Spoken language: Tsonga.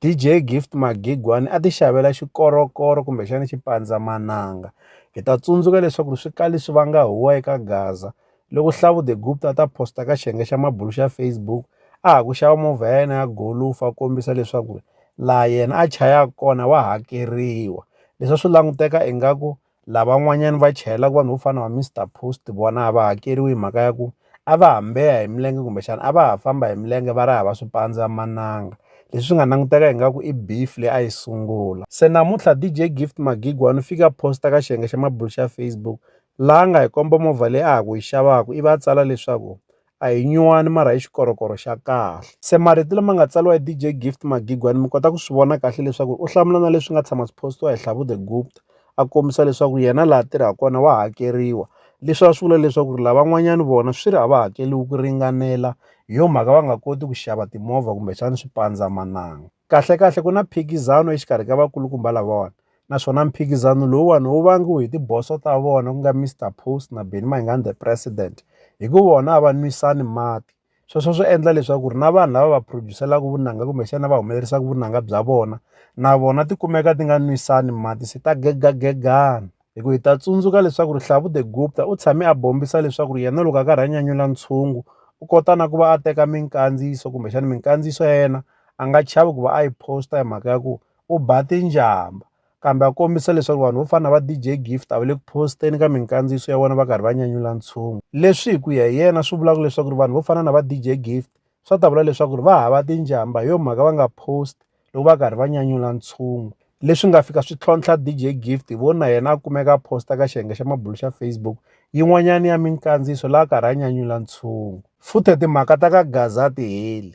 DJ Gift Magigwani a ti xavela xikorokoro kumbexana xipandzamananga. Hi ta tsundzuka leswaku swi kali swi vanga huwa eka Gaza. Loko Hlavu the Gupta a ta posta ka xiyenge xa mabulu xa Facebook a ha ku xava movha ya yena ya golufa a kombisa leswaku laha yena a chayaka kona wa hakeriwa. Leswi a swi languteka ingaku lavan'wanyani va chayelaka vanhu vo fana na va Mister Post vona a va hakeriwi hi mhaka ya ku a va hambeha hi milenge kumbexana a va ha famba hi milenge va ri hava swipandzamananga leswi swi nga languteka ingaku i beef leyi a yi sungula se namuntlha DJ Gift Magigwa ni fika posta ka xiyenge xa mabulo xa Facebook laha nga hi komba movha leyi a ha ku yi xavaka ivi a tsala leswaku A hi nyuwani mara i xikorokoro xa kahle. Se marito lama nga tsariwa hi DJ Gift Magigwani mi kota ku swi vona kahle leswaku u hlamula na leswi nga tshama swi post-iwa hi Hlavu the Gupta a kombisa leswaku yena laha tirhaka kona wa hakeriwa, leswi a swi vula leswaku ri lavan'wanyani vona swi ri a va hakeriwi ku ringanela hi yo mhaka va nga koti ku xava timovha kumbexani swipandzamananga. Kahlekahle ku na phikizano exikarhi ka vakulukumba lavawani naswona mphikizano lowuwani wu vangiwe hi tiboso ta vona ku nga Mister Post na Benny Mayengani the president hi ku vona a va nwisani mati sweswo swi endla leswaku ri na vanhu lava va producer-laku vunanga kumbexana va humelerisaka vunanga bya vona na vona ti kumeka ti nga nwisani mati se ta gegagegana hi ku hi ta tsundzuka leswaku ri Hlavu the Gupta u tshame a bombisa leswaku ri yena loko a karhi a nyanyula ntshungu u kota na ku va a teka minkandziyiso kumbexana minkandziyiso ya yena a nga chavi ku va a yi post-a hi mhaka ya ku u ba tinjhambha kambe a kombisa leswaku vanhu vo fana na va DJ Gift a va le ku post-eni ka minkandziyiso ya vona va karhi va nyanyula ntshungu leswi hi ku ya hi yena swi vulaka leswaku ri vanhu vo fana na va DJ Gift swa ta vula leswaku ri va hava tinjhambha hi yo mhaka va nga post loko va karhi va nyanyula ntshungu leswi nga fika swi tlhontlha DJ Gift hi vona yena a kumeka a posta ka xiyenge xa mabulo xa Facebook yin'wanyana ya minkandziyiso laha karhi a nyanyula ntshungu futhe timhaka ta ka Gaza ti heli